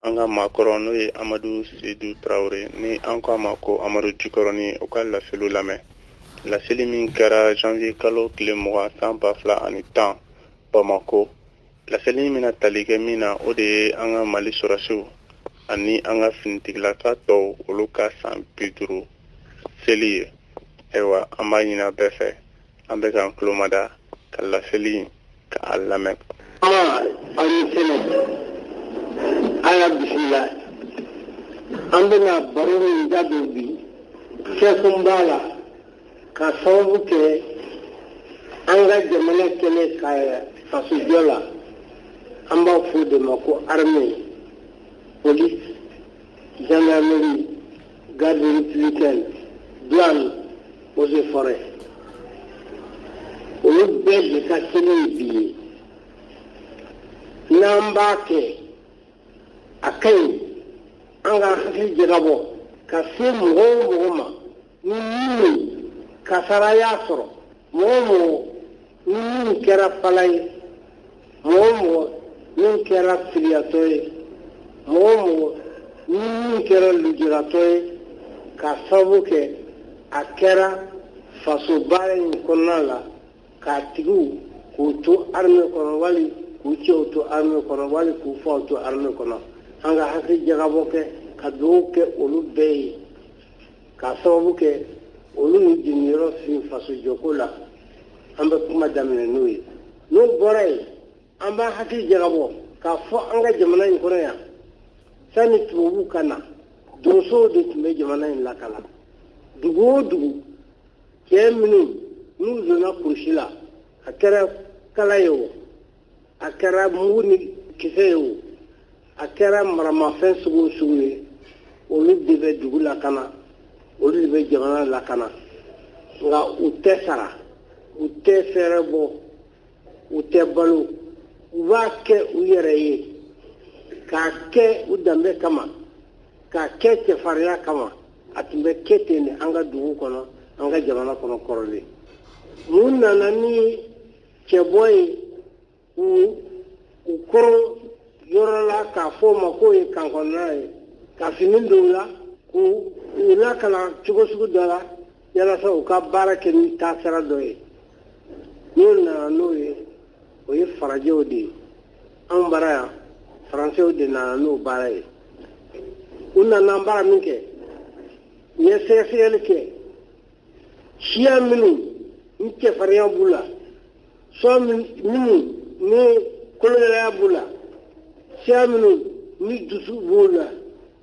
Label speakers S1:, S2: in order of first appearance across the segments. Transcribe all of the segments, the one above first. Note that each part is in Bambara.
S1: an ka maakɔrɔ n'o ye amadu sedu tarawele ni an ko a ma ko amadu jikɔrɔni u ka laseliw lamɛn laseli min kɛra janvier kalo tile mugan san ba fila ani tan bamako laseli in bɛna tali kɛ min na o de ye an ka mali sɔrɔdasiw ani an ka finitigilaka tɔw olu ka san bi duuru seli ye ayiwa an b'a ɲin'a bɛɛ fɛ an bɛ k'an tulomada ka laseli k'a lamɛn aw ni
S2: sɛnɛ an y'a bisimila an bɛna baro min da don bi kɛkun b'a la ka sababu kɛ an ka jamana kɛlɛ ka fasojɔ la an b'a fɔ o de ma ko armée police gendarmerie garde républicaine douane eaux et forêts olu bɛɛ de ka kɛnɛ ye bi ye n'an b'a kɛ a ka ɲi an ka hakili jagabɔ ka se mɔgɔ o mɔgɔ ma ni min kasara y'a sɔrɔ mɔgɔ o mɔgɔ ni minnu kɛra fala ye mɔgɔ o mɔgɔ min kɛra filiyatɔ ye mɔgɔ o mɔgɔ ni min kɛra lujuratɔ ye ka sababu kɛ a kɛra faso baara in kɔnɔna la k'a tigiw k'u to arme kɔnɔ wali k'u cɛw to arme kɔnɔ wali k'u faw to arme kɔnɔ an ka hakili jagabɔ kɛ ka dugawu kɛ olu bɛɛ ye k'a sababu kɛ olu ni jiginniyɔrɔ fin fasojɔko la an bɛ kuma daminɛ n'o ye n'o bɔra yen an b'an hakili jagabɔ k'a fɔ an ka jamana in kɔnɔ yan sanni tubabuw ka na donsow de tun bɛ jamana in lakana dugu o dugu cɛ minnu n'u donna kurusi la a kɛra kala ye o a kɛra mugu ni kisɛ ye o a kɛra maramafɛn sugu o sugu ye olu de bɛ dugu lakana olu de bɛ jamana lakana nka u tɛ sara u tɛ fɛɛrɛbɔ u tɛ balo u b'a kɛ u yɛrɛ ye k'a kɛ u danbe kama k'a kɛ cɛfarinya kama a tun bɛ kɛ ten de an ka dugu kɔnɔ an ka jamana kɔnɔ kɔrɔlen mun nana ni cɛbɔ ye k'u koron yɔrɔ la k'a fɔ o ma k'o ye kan kɔnɔna ye ka fini don u la k'u u lakalan cogo sugu dɔ la yalasa u ka baara kɛ ni taasira dɔ ye minnu nana n'o ye o ye farajɛw de ye anw bara yan faransɛw de nana n'o baara ye u nana baara min kɛ u ye sɛgɛsɛgɛli kɛ siya minnu ni cɛfarinya b'u la siya minnu ni kologɛlɛya b'u la siya minnu ni dusu b'u la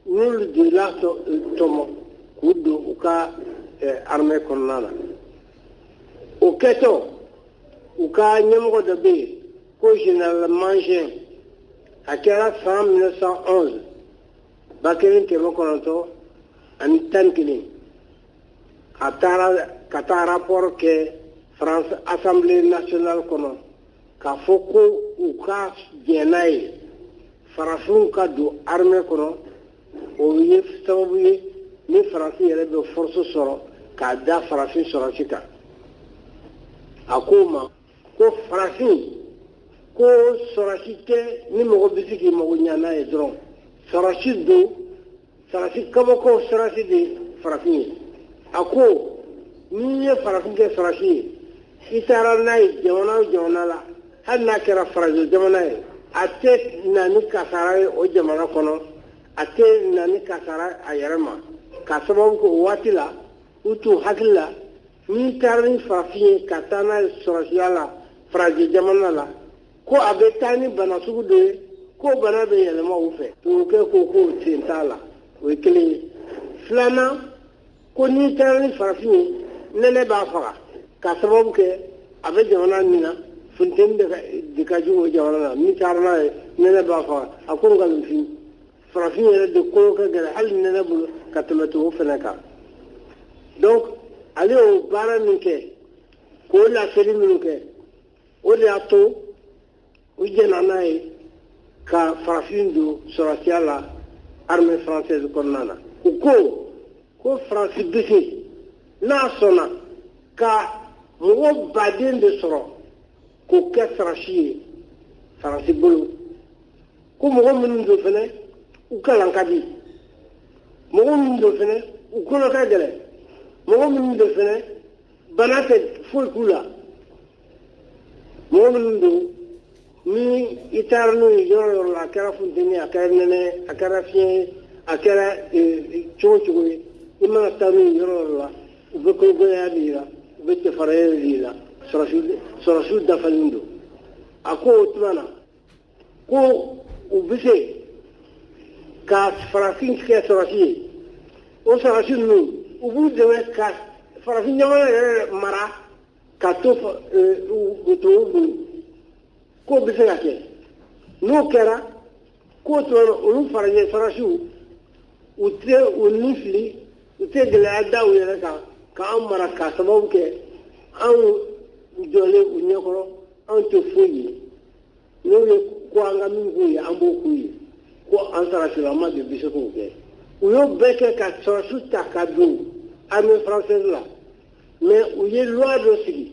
S2: n'olu de latɔmɔ k'u don u ka armɛ kɔnɔna na o kɛtɔ u ka ɲɛmɔgɔ dɔ bɛ yen ko général Mangin a kɛra san 1911 ba kelen kɛmɛ kɔnɔntɔn ani tan ni kelen a taara ka taa rapport kɛ France Assemblée nationale kɔnɔ k'a fɔ ko u ka jɛn n'a ye farafinw ka don armée kɔnɔ o ye sababu ye ni faransi yɛrɛ bɛ force sɔrɔ k'a da farafin sɔrɔsi kan a ko ma ko farafin ko sɔrɔsi tɛ ni mɔgɔ bɛ se k'i mago ɲa n'a ye dɔrɔn sɔrɔsi don sɔrɔsi kabako sɔrɔsi de farafin ye a ko n'i ye farafin kɛ sɔrɔsi ye i taara n'a ye jamana o jamana la hali n'a kɛra farajɛ jamana ye a tɛ na ni kasara ye o jamana kɔnɔ a tɛ na ni kasara a yɛrɛ ma ka sababu kɛ o waati la u t'u hakili la n'i taara ni farafin ye ka taa n'a ye sɔrɔsiya la farajɛ jamana la ko a bɛ taa ni bana sugu dɔ ye ko bana bɛ yɛlɛma u fɛ tubabukɛ ko k'o sen t'a la o ye kelen ye filanan ko n'i taara ni farafin ye nɛnɛ b'a faga ka sababu kɛ a bɛ jamana min na funteni de ka jugu o jamana na n'i taara n'a ye nɛnɛ b'a faga a ko nkalon fin farafin yɛrɛ de kolo ka gɛlɛn hali nɛnɛ bolo ka tɛmɛ tubabu fana kan donc ale y'o baara min kɛ k'o laseli minnu kɛ o de y'a to u jɛnna n'a ye ka farafin don sɔrɔsiya la armée française kɔnɔna na u ko ko faransi bɛ se n'a sɔnna ka mɔgɔ baden de sɔrɔ k'o kɛ sɔrɔsi ye faransi bolo ko mɔgɔ minnu don fɛnɛ u kalan ka di mɔgɔ minnu don fɛnɛ u kolo ka gɛlɛn mɔgɔ minnu don fɛnɛ bana tɛ foyi k'u la mɔgɔ minnu don ni i taara n'u ye yɔrɔ yɔrɔ la a kɛra funteni a kɛra nɛnɛ a kɛra fiɲɛ a kɛra cogo cogo ye i mana taa n'u ye yɔrɔ yɔrɔ la u bɛ kologɛlɛya de yira u bɛ cɛfarinya de yira sɔrɔsiw dafalen don a ko o tuma na ko u bɛ se ka farafin kɛ sɔrɔsi ye o sɔrɔsi ninnu u b'u dɛmɛ ka farafin jamana yɛrɛ mara ka to tɔw to u bolo k'o bɛ se ka kɛ n'o kɛra k'o tuma na olu farajɛ sɔrɔsiw u tɛ u ni fili u tɛ gɛlɛya da u yɛrɛ kan k'an mara k'a sababu kɛ anw jɔlen u ɲɛkɔrɔ anw tɛ foyi ye n'o ye ko an ka min k'u ye an b'o k'u ye ko an sɔrɔsilama de bɛ se k'o kɛ u y'o bɛɛ kɛ ka sɔrɔsi ta ka don armée française la mais u ye loi dɔ sigi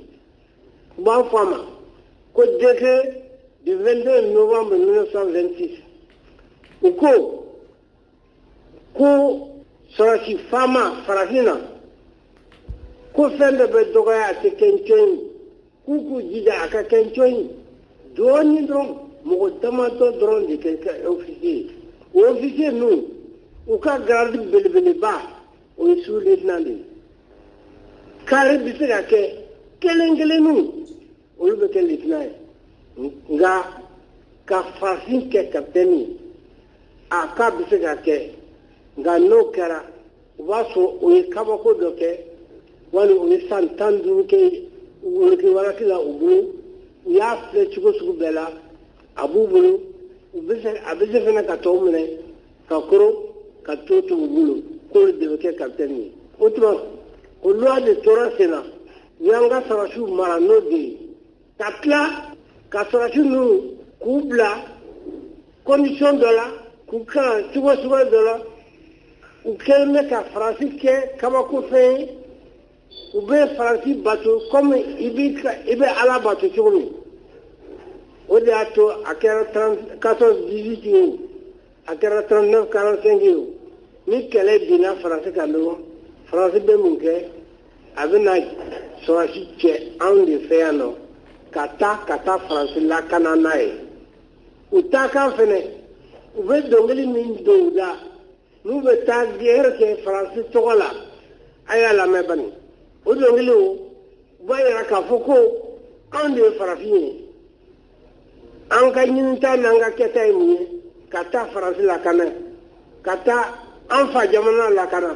S2: u b'a fɔ a ma ko décret du 22 novembre 1926 u ko ko sɔrɔsi faama farafinna ko fɛn bɛɛ bɛ dɔgɔya a tɛ kɛ ncɔn ye k'u k'u jija a ka kɛ ncɔn ye dɔɔnin dɔrɔn mɔgɔ damadɔ dɔrɔn de ka kɛ ofisiye ye o ofisiye ninnu u ka garadi belebeleba o ye su letinan de ye kari bɛ se ka kɛ kelen kelenninw olu bɛ kɛ letinan ye nka ka farafin kɛ kapitɛni ye a k'a bɛ se ka kɛ nka n'o kɛra u b'a sɔrɔ o ye kabako dɔ kɛ wali o ye san tan ni duuru kɛ wolokiwalaki la u bolo u y'a filɛ cogo sugu bɛɛ la a b'u bolo a bɛ se fana ka tɔw minɛ ka koron ka tɔw to u bolo k'olu de bɛ kɛ kapitɛni ye o tuma o loi de tora sen na u y'an ka sɔrɔsiw mara n'o de ye ka tila ka sɔrɔsi ninnu k'u bila condition dɔ la k'u kalan cogo suguya dɔ la u kɛlen bɛ ka faransi kɛ kabakofɛn ye u bɛ faransi bato kɔmi i bɛ ala bato cogo min o de y'a to a kɛra 14 18 ye o a kɛra 39 45 ye o ni kɛlɛ binna faransi kan dɔrɔn faransi bɛ mun kɛ a bɛ na sɔrɔsi cɛ anw de fɛ yan nɔ ka taa ka taa faransi lakana n'a ye u taakan fɛnɛ u bɛ dɔnkili min don u da n'u bɛ taa gɛrɛ kɛ faransi tɔgɔ la a y'a lamɛn bani o dɔnkiliw b'a yira k'a fɔ ko anw de ye farafin ye an ka ɲinita n'an ka kɛta ye mun ye ka taa faransi lakana ka taa an fa jamana lakana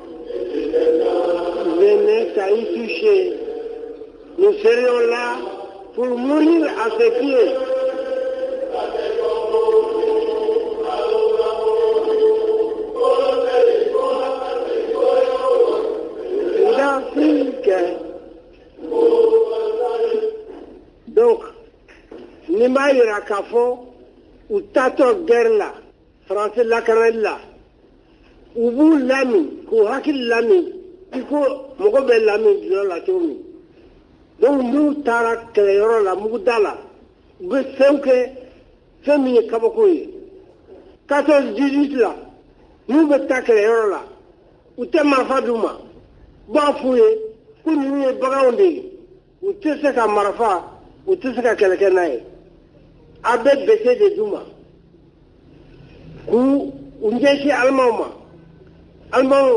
S2: Venez à y toucher. Nous serions là pour mourir à ses pieds. L'Afrique. Donc, ni m'a yira k'a fɔ u taatɔ gɛrɛ la faransi lakanali la u b'u lamin k'u hakili lamin i ko mɔgɔ bɛ lamin dɔlɔ la cogo min donc n'u taara kɛlɛyɔrɔ la muguda la u bɛ fɛnw kɛ fɛn min ye kabako ye 14 18 la n'u bɛ taa kɛlɛyɔrɔ la u tɛ marifa d'u ma u b'a f'u ye ko ninnu ye baganw de ye u tɛ se ka marifa u tɛ se ka kɛlɛ kɛ n'a ye a bɛ bese de d'u ma k'u u ɲɛsin alimaw ma alimaw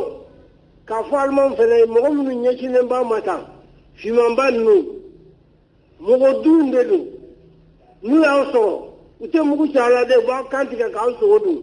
S2: k'a fɔ alimaw fana ye mɔgɔ minnu ɲɛsinnen b'a ma tan fimanba ninnu mɔgɔdun de don n'u y'aw sɔrɔ u tɛ mugu ci aw la dɛ u b'aw kan tigɛ k'aw sogo dun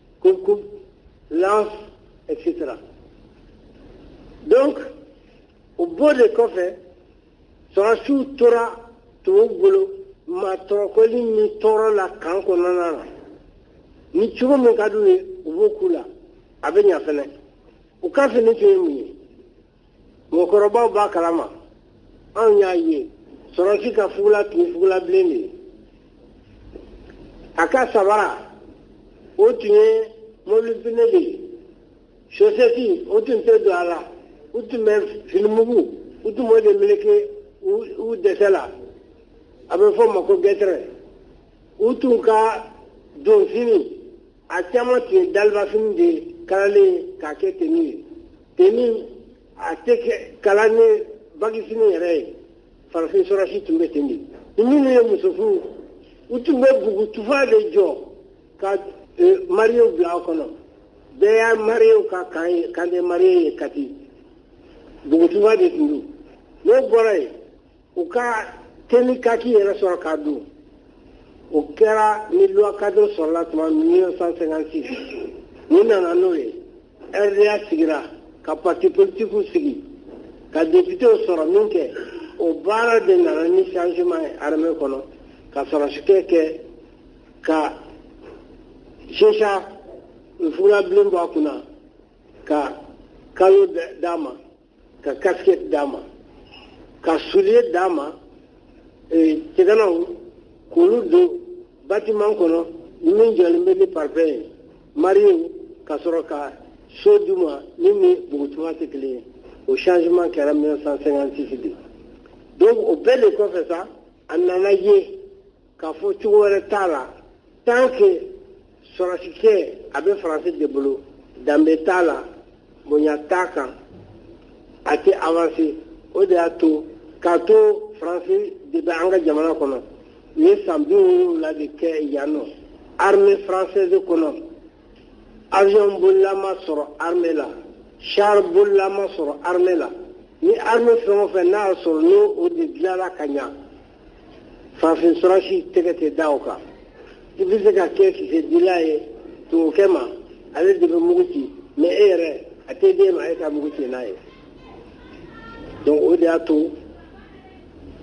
S2: Coupe-coupe, lance, etc. Donc, o bɔ de kɔfɛ sɔrɔsiw tora tubabu bolo maa tɔɔrɔkɔli ni tɔɔrɔ la camp kɔnɔna na ni cogo min ka d'u ye u b'o k'u la a bɛ ɲa fɛnɛ u ka fini tun ye mun ye mɔgɔkɔrɔbaw b'a kalama anw y'a ye sɔrɔsi ka fugula tun ye fugula bilen de ye a ka sabara o tun ye mobili pine de ye sosɛti o tun tɛ don a la u tun bɛ finimugu u tun b'o de meleke u dɛsɛ la a bɛ fɔ o ma ko gɛtɛrɛ u tun ka donfini a caman tun ye dalibafini de ye kalalen k'a kɛ teni ye teni a tɛ kɛ kala ni bagifini yɛrɛ ye farafin sɔrɔsi tun bɛ ten de ni minnu ye muso furu u tun bɛ bugu tufa de jɔ ka e, mariyew bila a kɔnɔ bɛɛ y'a mariyew ka camp ye camp des mariés ye kati bugu tufa de tun don n'o bɔra yen u ka teni kaki yɛrɛ sɔrɔ k'a don o kɛra ni loi cadre sɔrɔla tuma 1956 u nana n'o ye rda sigira ka parti politikiw sigi ka deputew sɔrɔ min kɛ o baara de nana ni changement ye armée kɔnɔ ka sɔrɔsikɛ kɛ ka chéchia fugula bilen bɔ a kunna ka calot d'a ma ka casquette d'a ma ka soulier d'a ma cɛganaw eh, k'olu don batiman kɔnɔ min jɔlen bɛ ni parpaing ye mariyew ka sɔrɔ ka so d'u ma min ni bugutuma tɛ kelen ye o changement kɛra 1956 de donc o bɛɛ de kɔfɛ sa a nana ye k'a fɔ cogo wɛrɛ t'a la tant que sɔrɔsikɛ a bɛ faransi de bolo danbe t'a la bonya t'a kan a tɛ avanse o de y'a to k'a to faransi de bɛ an ka jamana kɔnɔ u ye san bi wolonwula de kɛ yan nɔ armée française kɔnɔ avion bolila ma sɔrɔ armée la char bolila ma sɔrɔ armée la ni armée fɛn o fɛn n'a y'a sɔrɔ n'o o de dilanna ka ɲa farafin sɔrɔsi tɛgɛ tɛ da o kan i bɛ se ka kɛ kisɛdila ye tubabukɛ ma ale de bɛ mugu ci mais e yɛrɛ a tɛ d'e ma e ka mugu ci n'a ye donc o de y'a to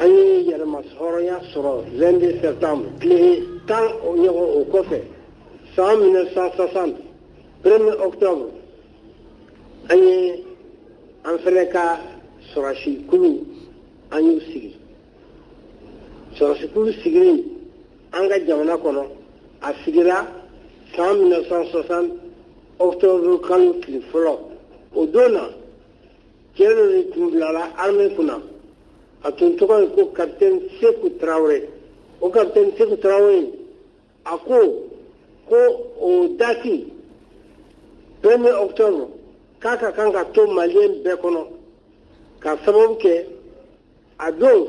S2: an ye yɛrɛmahɔrɔnya sɔrɔ 22 septembre tile tan ɲɔgɔn o kɔfɛ san 1960 premier octobre an ye an fɛnɛ ka sɔrɔsi kulu an y'u sigi sɔrɔsikulu sigili an ka jamana kɔnɔ a sigira san 1960 octobre kalo tile fɔlɔ o don na cɛ dɔ de tun bilala armée kunna a tun tɔgɔ ye ko capitaine seku tarawele o capitaine seku tarawele a ko ko o dati premier octobre k'a ka kan ka to maliyɛn bɛɛ kɔnɔ ka sababu kɛ a don